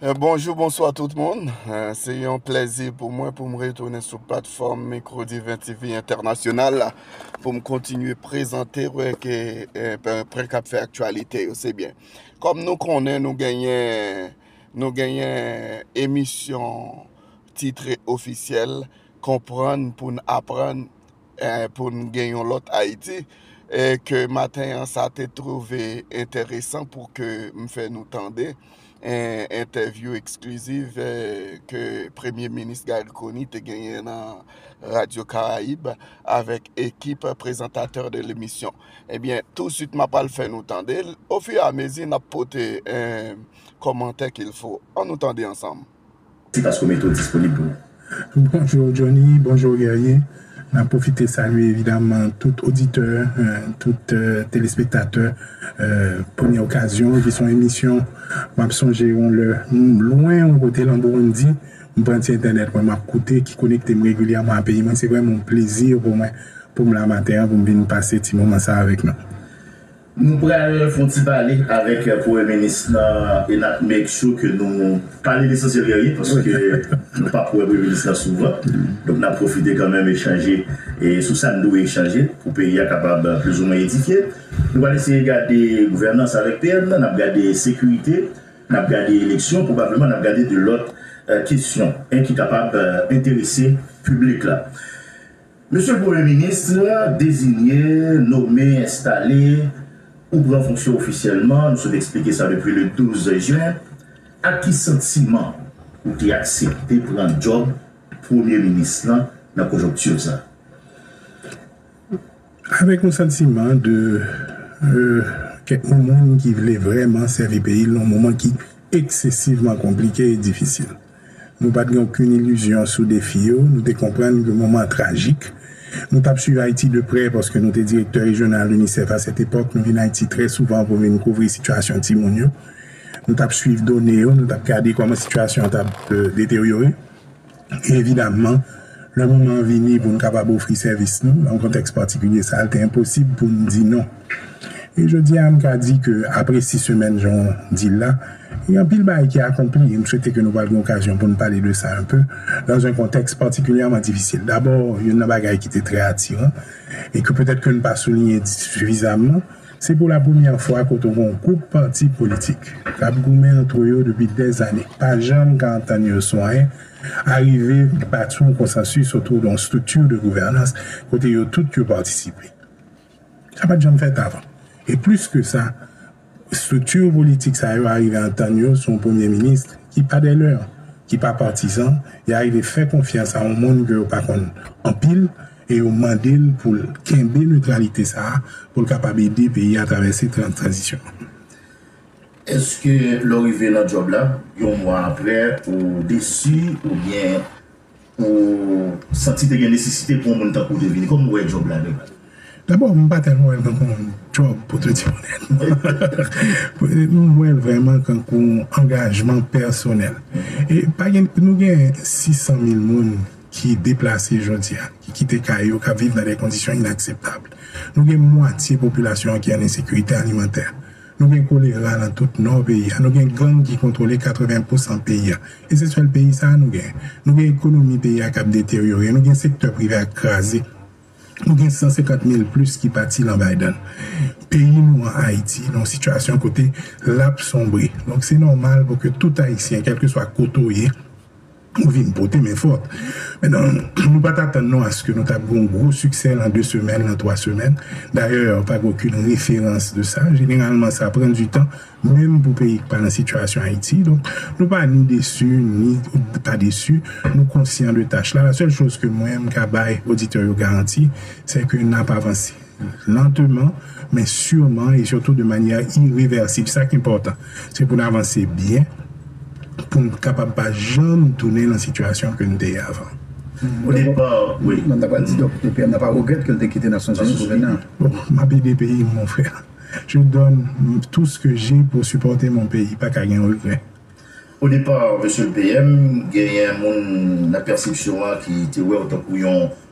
Eh, Bonjou, bonswa tout moun. Eh, Se yon plezi pou mwen pou m retounen sou platfòm Micro Divin TV Entènasyonal la pou m kontinye prezante w eh, ke eh, pwen k ap fè aktyalite yo. Se byen. Kòm nou konnen nou genyen nou genyen emisyon titre ofisyèl Konprann pou n aprann pou n gen yon lòt Ayiti e ke maten an sa te twouve enteresan pou ke m fè nou tande entèvyou ekskliziv ke Premye Minis Garry Conille te genyen nan Radyo Karayib avèk ekip prezantatè de lemisyon. Ebyen, touswit m ap al fè nou tande l, ofiramezi n ap pote kòmantè kilfo. An nou tande ansanm. Si paske w mete w disponib pou nou. Bonjour Johnny, bonjour Guerrier, nan profite salye evidaman tout oditè, tout telespektatè Premyè Okazyon ki son emisyon map sonje yon lè m lwen yon kote lan Burundi m pran ti entènèt mwen map koute ki konekte m regilyèman a peyi mwen se vrèman yon plezi pou mwen pou m la maten an pou m vin pase ti moman sa avèk nou. Nou pral fon ti pale avèk premye minis nan e nap make sure ke nou pale lesansyèl de ryen paske nou pap wè premye minis nan souvan donk nap pwofite kanmenm echanje sou sa n dwe echanje pou peyi a kapab plis ou mwen edifye nou pral eseye gade gouvènans avèk PM nan nap gade sekirite nap gade eleksyon pwobableman nap gade de lòt kesyon en ki kapab enterese piblik la. Mesye Premye Ministre, dezinye, nome, enstale, ou pran fonksyon ofisyèlman, nou sot eksplike sa depi le 12 jen, ak ki santiman ou te aksepte pran djòb Premye Minis lan nan konjonkti sa? Avèk yon santiman de kèk moun ki vle vrèman sèvi peyi l nan moman ki eksesivman konplike e difisil. Nou pa t gen okenn ilizyon sou defi yo. Nou te konprann ke moman an trajik. Nou t ap suiv Ayiti de prè paske nou te direktè rejyonal UNICEF asetepòk. Nou vin Ayiti trè souvan pou vin kouvri sitiyasyon timoun yo. Nou t ap suiv done yo, nou t ap gade kòman sitiyasyon an t ap deteryore. E evidamman. Lè moman an vini pou n kapab ofri sèvis nou nan kontèks patikilye sa a, l te enposib pou n di non. E jodi a, m ka di ke apre sis semèn, jan w di l la, gen anpil bagay ki akonpli, e m swete ke nou pral gen okazyon pou n pale de sa enpe, nan yon kontèks patikilyèman difisil. Dabò, youn nan bagay ki te trè atiran, e ke petèt ke n pa souliyen sifizamman, se pou lapremyè fwa kote w gen yon gwoup pati politik k ap goumen antre yo depi dèzane, pa janm ka antann yo sou anyen, arive bati yon konsansis otou yon estrikti de gouvènans kote yo tout yo patisipe. Sa pa t janm fèt avan. E plis ke sa, estrikti politik sa yo arive antann yo sou yon premye minis ki pa dè lè, ki pa patizan, y arive fè konfyans a yon moun ke yo pa konn anpil e yo mande l pou l kenbe netralite sa a pou l kapab ede peyi a travèse tranzisyon an. Eske lè w rive nan djòb la, yon mwa aprè, ou desi oubyen ou santi te gen nesesite pou yon moun tankou w te vini? Kòman w wè djòb la de baz? Dabò, m pa tèlman wè l tankou yon djòb pou te di onèt. M wè l vrèman kankou yon angajman pèsonèl. E pa gen, nou gen 600 mil moun ki deplase jodi a, ki kite kay yo, k ap viv nan de kondisyon inakseptab. Nou gen mwatye popilasyon an ki an ensekirite alimantè. Nou gen kolera nan tout nò peyi a, nou gen gang ki kontwole 80 pousan peyi a, e se sèl peyi sa a nou gen. Nou gen ekonomi peyi a k ap deteryore, nou gen sektè prive ak kraze, nou gen 150 mil plis ki pati lan Biden. Peyi nou an, Ayiti, nan yon sitiyasyon kote l ap sonbre. Donk se nòmal pou ke tout Ayisyen, kèlkeswa kote w ye, Ou vin pote men fòt. Men nan, nou pa t atann nou aske nou t ap gen yon gwo siksè lan de semèn, lan twa semèn. Dayè, pa gen okenn referans de sa. Jeneralman, sa pran di tan, menm pou peyi ki pa lan sitiyasyon Ayiti. Donk, nou pa ni desi, ni pa desi. Nou konsyan de tach la. La sèl choz ke mwen, m ka bay oditè yo garanti, sè ke n ap avanse. Lanteman, men sireman e sitou de manyè irevèsib. Sa k enpòtan, se pou n avanse byen pou n kapab pa janm tounen nan sitiyasyon ke n te ye avan. Mwen ta pral di dòk de PM nan pa regrèt ke l te kite Nasyonzini pou vin nan. M ap ede peyi m, mon frère. Je donne tout ce que j'ai pour supporter mon pays. Pa ka gen regrè. O depar, Mesye le PM, genyen moun nan pèsepsyon an ki te wè w tankou yon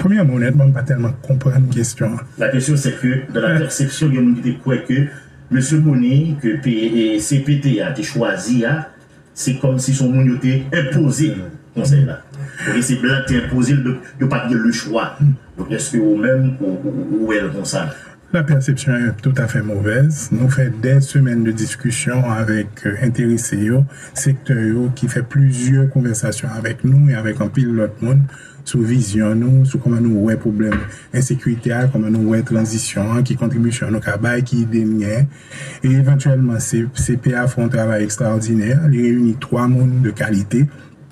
Premyèman, onètman, m pa tèlman konprann kesyon an. La question c'est que dans la perception gen moun ki te kwè ke Mesye Boni ke cpt a te chwazi a se kòmsi se yon moun yo te enpoze l konsèy la oubyen se blan ki te enpoze l donk yo pa t gen lechwa donk èske ou menm ou wè l konsa? La perception est tout à fait mauvaise. Nou fè dè semèn de diskisyon avèk enterese yo, sektè yo ki fè plizyè konvèsasyon avèk nou e avèk anpil lòt moun sou vizyon nou, sou kòman nou wè pwoblèm ensekirite a, kòman nou wè tranzisyon an, ki kontribisyon nou ka bay, ki ide n gen. E evantyèlman CPA fè yon travay ekstraòdinè, li reyini 3 moun de kalite.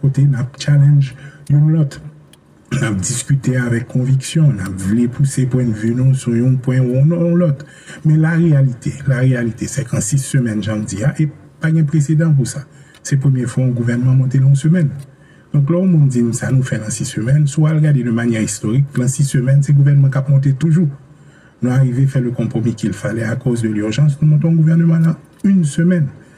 Kote n ap challenge youn lòt, n ap diskite avèk konviksyon, n ap vle pouse pwennvi nou sou youn pwen ou youn lòt. Men la reyalite, la reyalite se k an 6 semèn jan m di a, e pa gen presedan pou sa, se premye fwa youn gouvènman monte nan youn semèn. Donk lè youn moun di m sa nou fè lan 6 semèn, si w al gade de manyè istorik, lan 6 semèn se gouvènman k ap monte toujou. Nou arive fè le konpwomi kilfale akòz de lirjans nou monte youn gouvèneman lan youn semèn.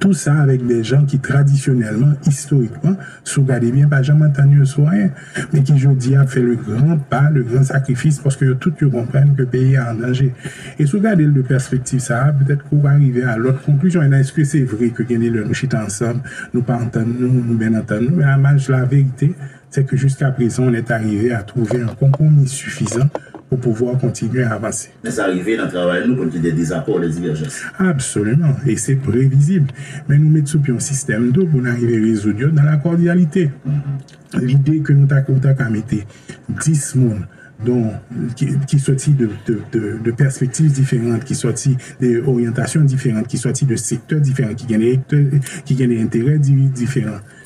Tou sa avèk de jan ki tradisyonèlman, istorikman, si w gade byen, pa janm antann yo sou anyen, men ki jodi a ap fè le gran pa, le gran sakrifis, paske yo tout yo konprann ke peyi a an danje. E si w gade l de pèspektiv sa a, petèt ke w va rive a lòt konklizyon. Enben, èske se vre ke gen de lè nou chita ansanm, nou pa antann nou, nou byen antann nou? Men a maj laverite, se ke jiskaprezan on est arrive a trouve un compromis suffisant pou pouvoir continuer à avancer. Men sa rive nan travay nou pou n ki gen dezakò, lè divèjans. Absoluman, e se previzib. Men nou met sou pye on sistèm tou pou n arive rezoud yo nan lakòdyalite. Lide ke nou ta ou ta ka mete 10 moun don ki soti de pèspektiv diferant, ki soti de oryantasyon diferant, ki soti de sektè diferant, ki gen de enterè diferan,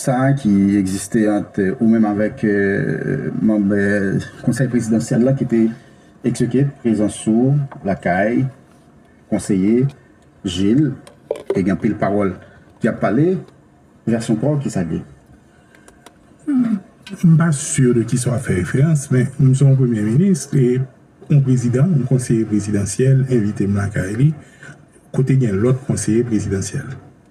sa a ki egziste ant ou menm avèk manb konsèy prezidansyèl la ki te eksplike prezans ou lakay konseye Jil e gen anpil pawòl ki ap pale, vèsyon pa w ki sa k gen? M pa sur de kisa w ap fè referans men m se yon premye minis e yon prezidan yon konseye prezidansyèl envite m lakay li kote gen lòt konseye prezidansyèl.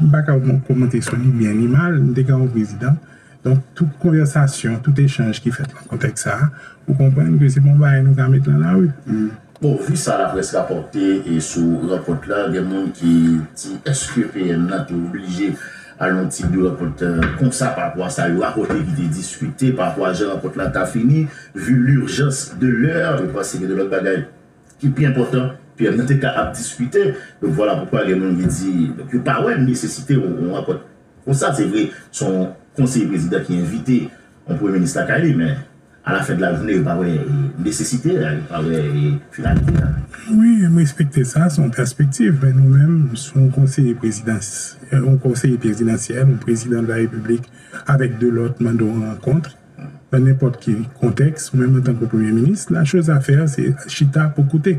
M pa ka komante sou li byen ni mal, m te kawou prezidan. Donk, tout konvèsasyon, tout echanj ki fèt nan kontèks sa a, ou konprann ke se pa yon bagay nou ka met nan lari. Bon, vu sa laprès rapòte sou rankont la, gen moun ki di èske PM nan te oblije al yon tip de rankont konsa parapò a sa yo rapòte ki te diskite, parapò a jan rankont la ta fini, vu l'urgence de l'heure, yo panse gen de lòt bagay. ki pi enpòtan Pierre nou te ka ap diskite donk vwala poukwa gen moun ki di donk yo pa wè nesesite yon rankont konsa se vre son konseye prezidan ki envite yon premye minis lakay li men alafen de la jounen yo pa wè nesesite a yo pa wè finalite a. Wi m respekte sa son pèspektiv men nou menm son konseye prezidans yon konseye prezidansyèl yon prezidan de la repiblik avèk 2 lòt mande yon rankontr nan nenpòt ki kontèks, mwen menm antanke Premye Minis, la choz a fè se chita pou koute.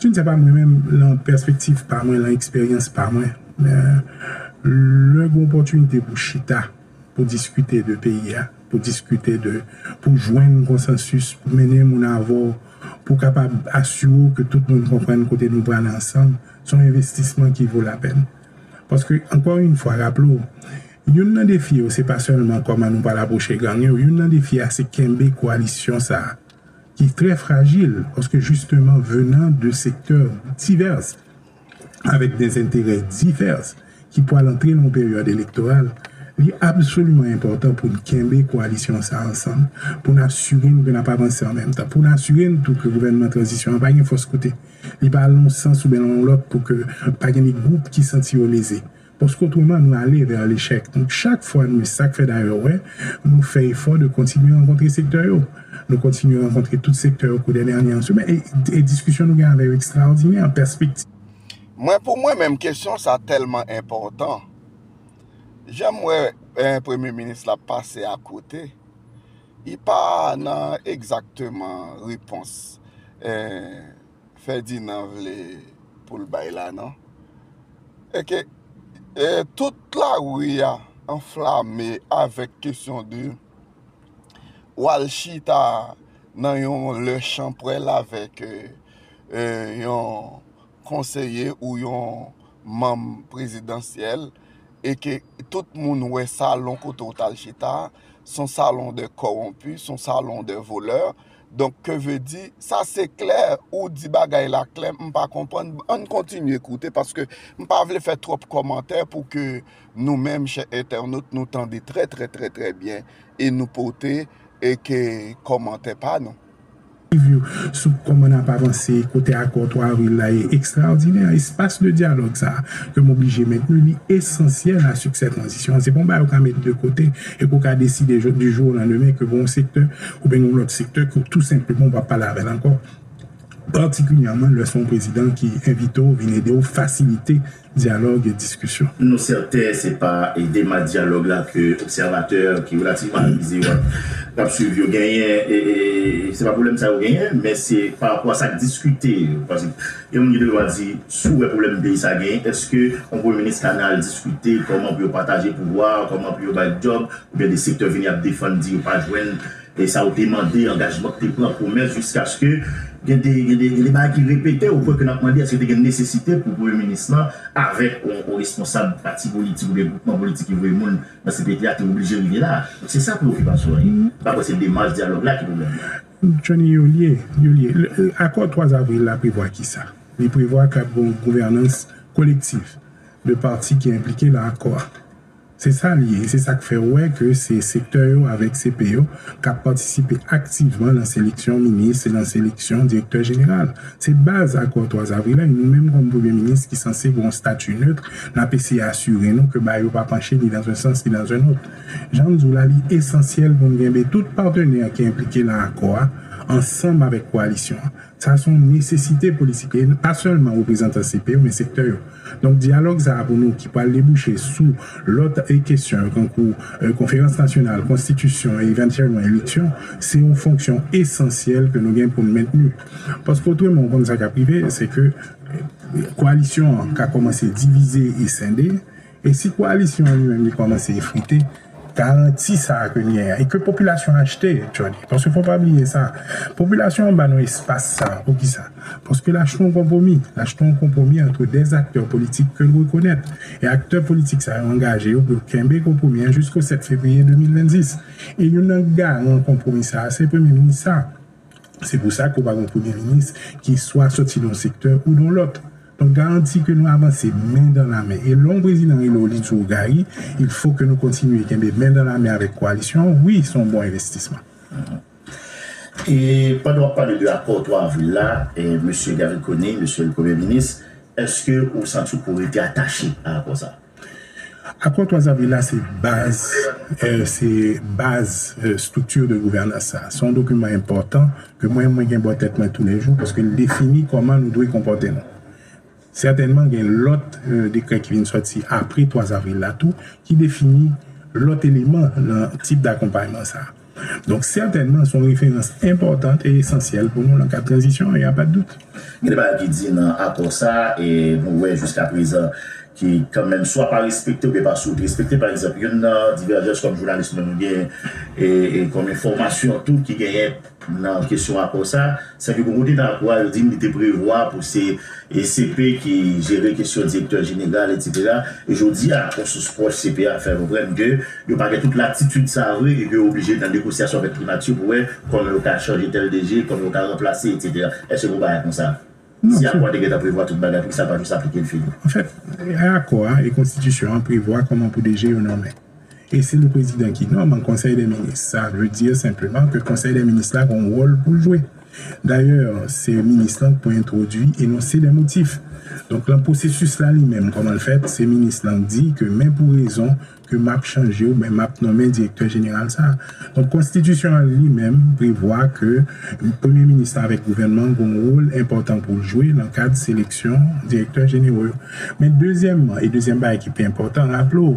Je ne sais pas mwen menm lan pèspektiv pa mwen, lan eksperyans pa mwen, lè gen opòtinite pou chita, pou diskite de peyi a, pou diskite de, pou jwenn konsansis, pou mennen moun avè w, pou kapab asire w ke tout moun konprann kote nou prale ansanm, se yon envestisman ki vo lapèn. Paske ankò yn fwa raple w, Youn nan defi yo se pa sèlman kòman nou pral apwoche gang yo, youn nan defi a se kenbe koalisyon sa a ki trè frajil paske jisteman venan de sektè divès avèk dèzenterè divès ki pwal antre nan yon peryòd elektoral, li absoliman enpòtan pou n kenbe koalisyon sa a ansanm, pou n asire n ke n ap avanse an menm tan, pou n asire n tou ke gouvènman tranzisyon an pa gen fòs kote li pa al nan yon sans ouben nan yon lòt pou ke pa gen de gwoup ki santi yo leze. Paske otreman nou ale vè lechèk. Donk chak fwa nou e sak fè dayè wè, nou fè efò de kontinye rankontre sektè yo. Nou kontinye rankontre tout sektè yo kou dè dènye an semè e diskisyon nou gen avè yo ekstraòdinè an pèspektiv. Mwen pou mwen menm kesyon sa tèlman enpòtan. Janm wè premye minis la pase a kote, li pa nan egzakteman repons. Ferdinand vle poul bay la non. Eke tout la rue a anflame avek kesyon de ou al chita nan yon le chanprel avek yon konseye ou yon manm prezidansyel eke tout moun we salon kote ou tal chita son salon de koronpi son salon de voleur Donk ke ve di, sa se klè, ou di bagay la klè, m pa konprann, ann kontinye koute paske m pa vle fè twòp kòmantè pou ke nou menm chè entènot nou tande trè trè trè trè byen e nou pote e ke kòmantè pa nou. Liv yo sou kòman n ap avanse kote akò 3 avril la ye ekstraòdinè, espas de dyalòg sa a ke m oblije mentni li esansyèl a siksè tranzisyon an, se pa yon bagay ou ka met de kote e ke w ka deside du jour au lendemain ke pou yon sektè Oubyen gen yon lòt sektè ke w tou senpleman ou pa pale avè l ankò, patikilyèman lè se yon prezidan ki envite w vin ede w fasilite dyalòg e diskisyon. Nou sèten se pa demann dyalòg la ke obsèvatè ki relativman avize yo k ap swiv yo genyen, se pa pwoblèm sa yo genyen, men se parapò a sa k diskite. Paske gen moun ki te gentan di, si w wè pwoblèm peyi sa genyen, èske yon premye minis ka nan al diskite kòman pou yo pataje pouvwa a, kòman pou yo bay djòb, Gen de sektè vini ap defann di yo pa jwenn e sa yo te mande, angajman ki te pran, pwomès jiskaske gen de gen de gen de bagay ki repete o pwen ke nap mande eske te gen nesesite pou premye minis lan avèk on responsab pati politik oubyen gwoupman politik ki voye moun nan cpt a te oblije rive la a. Donk se sa preyokipasyon an ye. M pa kwè se demach dyalòg la ki pwoblèm nan. Johnny, Yo lye, yo lye. Akò 3 avril la prevwa kisa? Li prevwa kap gen on gouvènans kolektif de pati ki enplike nan akò a. Se sa l ye e se sa k fè w wè ke se sektè yo avèk CP yo k ap patisipe aktivman nan seleksyon minis e nan seleksyon direktè jeneral. Se baz akò Twazavrilay, nou menm kòm Premye Minis ki sanse gen yon stati neutre, n ap eseye asire nou ke ba yo pa panche ni dan un sans ni dan un autre. Jan m di w la, li esansyèl pou n genbe tout patenè ki enplike nan akò a ansanm avèk koalisyon an. Sa se yon nesesite politik e pa sèlman reprezantan CP yo men sektè yo. Donk dyalòg sa a pou nou ki pral debouche sou lòt kesyon yo tankou konferans nasyonal, konstitisyon e evantyèlman eleksyon se yon fonksyon esansyèl ke nou gen pou nou mentni. Paske otreman ou konn sa k ap rive se ke koalisyon an ka kòmanse divize e sende. E si koalisyon an li menm li kòmanse efrite, garanti sa a ke n genyen an, e ke popilasyon an achte, Jody, paske fò w pa bliye sa, popilasyon an ba nou espas sa a, poukisa? Paske l achte yon konpwomi, l achte yon konpwomi antre 2 aktè politik ke l rekonèt, e aktè politik sa yo angaje yo pou yo kenbe konpwomi an jisko 7 fevriye 2026. E youn nan garan konpwomi sa a se Premye Minis sa a. Se pou sa ke w pa gen yon Premye Minis ki swa soti nan yon sektè ou nan yon lòt. Mwen garanti ke nou avanse men dan la men. E lè yon prezidan rele w li di w Gary, il fo ke nou kontinye kenbe men dan la men avèk koalisyon an. Wi, se yon bon envestisman. E pandan w ap pale de akò 3 avril la, Mesye Garry Conille, Mesye le Premye Minis, èske ou santi w pou rete atache a akò sa a? Akò 3 avril la se baz, se baz structure de gouvernance sa. Se yon dokiman enpòtan ke mwen mwen gen bò tèt mwen tou lè jou paske li defini kòman nou dwe konpòte nou. Sètènman gen lòt dekrè ki vin sòti apre 3 avril la tou ki defini lòt eleman nan tip dakonpayman sa. Donk sètènman son referans enpòtant e esansyèl pou nou nan kad tranzisyon an, y a pa dout. Gen de bagay ki di nan akò sa a e nou wè jiska prezan ki kan menm swa pa respekte oubyen pa sou respekte. Pa egzanp youn nan divèjans kòm jounalis nou nou gen e kòm enfòmasyon tou ki genyen nan kesyon akò sa a, sè ke bon kote nan akò a yo di n li te prevwa pou se E CP ki jere kesyon direktè jeneral etsetera. E jodi a, yon sous pwòch CP a fè konprann ke yo pa gen tout latitid sa a vre e ke yo oblije nan negosyasyon avèk primati pou wè kòman yo ka chanje tèl DG, kòman yo ka ranplase etsetera. Èske gon bagay konsa? Si akò a te gentan prevwa tout bagay, poukisa l pa jis aplike l fini? Anfèt, akò a e konstitisyon an prevwa kòman pou DG yo nonmen. E se li prezidan ki nonm konsèy dè minis. Sa vle di senpleman ke konsèy dè minis la gon wòl pou l jwe. Dayè, se minis lan k pou entwodui enonse dè motif. Donk lan pwosesis la li menm kòman l fèt, se minis lan k di ke men pou rezon ke map chanje oubyen map nonmen direktè jeneral sa. Donk konstitisyon an li menm prevwa ke premye minis lan avèk gouvènman an gon wòl enpòtan pou l jwe lan kad seleksyon direktè jenero yo. Men dezyèmman, e dezyèm bagay ki pi enpòtan, raple w,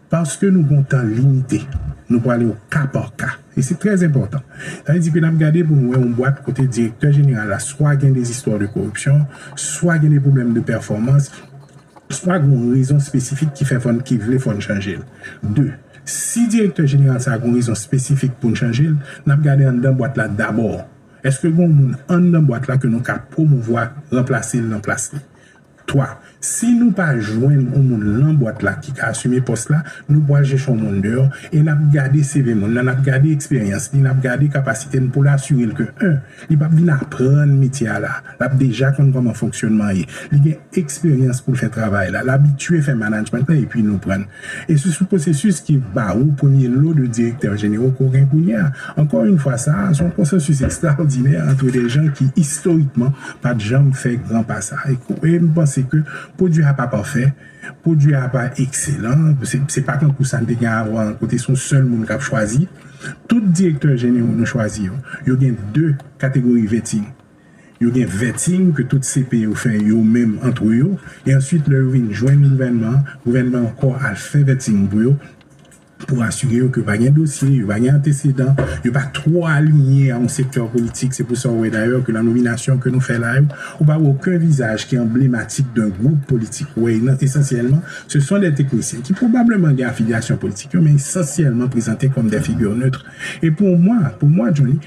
Paske nou gen yon tan limite, nou prale o ka pa ka. E se trè enpòtan. Sa vle di ke n ap gade pou n wè yon bwat kote direktè jeneral la swa gen des histoires de corruption, swa gen des problèmes de performance, swa gen yon rezon espesifik ki fè fò n, ki vle fò n chanje l. De, si direktè jeneral sa a gen yon rezon espesifik pou n chanje l, n ap gade anndan bwat la dabò. Eske gen yon moun anndan bwat la ke nou ka pwomouvwa, ranplase l nan plas li? 3, Si nou pa jwenn on moun lan bwat la ki ka asime pòs la, nou pwal chèche on moun deyò e nap gade CV moun nan, nap gade eksperyans li, nap gade kapasite n poul asire l ke 1, li pap vin aprann metye a la, lap deja konn kòman fonksyonman ye, li gen eksperyans poul fè travay la, l abitye fè manajmant la epi nou pran l. E se sou pwosesis ki ba ou premye lo de direktè jenero ke w gen kounye a. Ankò yn fwa sa a, se yon konsansis ekstraòdinè antre de jan ki istorikman pa t janm fè gran pa sa. E m panse ke pwodui a pa pafè, pwodui a pa ekselan, se pa tankou sa n te gen avan an kote se yon sèl moun k ap chwazi. Tout direktè jenero nou chwazi yo, yo gen de kategori vèti. Yo gen vetting ke tout CP yo fè yo menm antre yo, e answit lè yo vin jwenn gouvènman an, gouvènman an ankò al fè vetting pou yo, pou asire yo ke yo pa gen dosye, yo pa gen antesedan, yo pa twò alinye a yon sektè politik, se pou sa ou wè dayè ke nan nominasyon ke nou fè la yo, ou pa wè oken vizaj ki anblematik d'un gwoup politik, ou wè nan esansyèlman se son dè teknisyen ki pwobableman gen afilyasyon politik yo, men esansyèlman prezante kòm dè figure neutre. E pou mwa, pou mwa Johnny.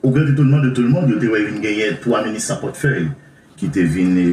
O grand etonman de tou lmond, yo te wè vin genyen 3 minis san pòtfèy ki te vin.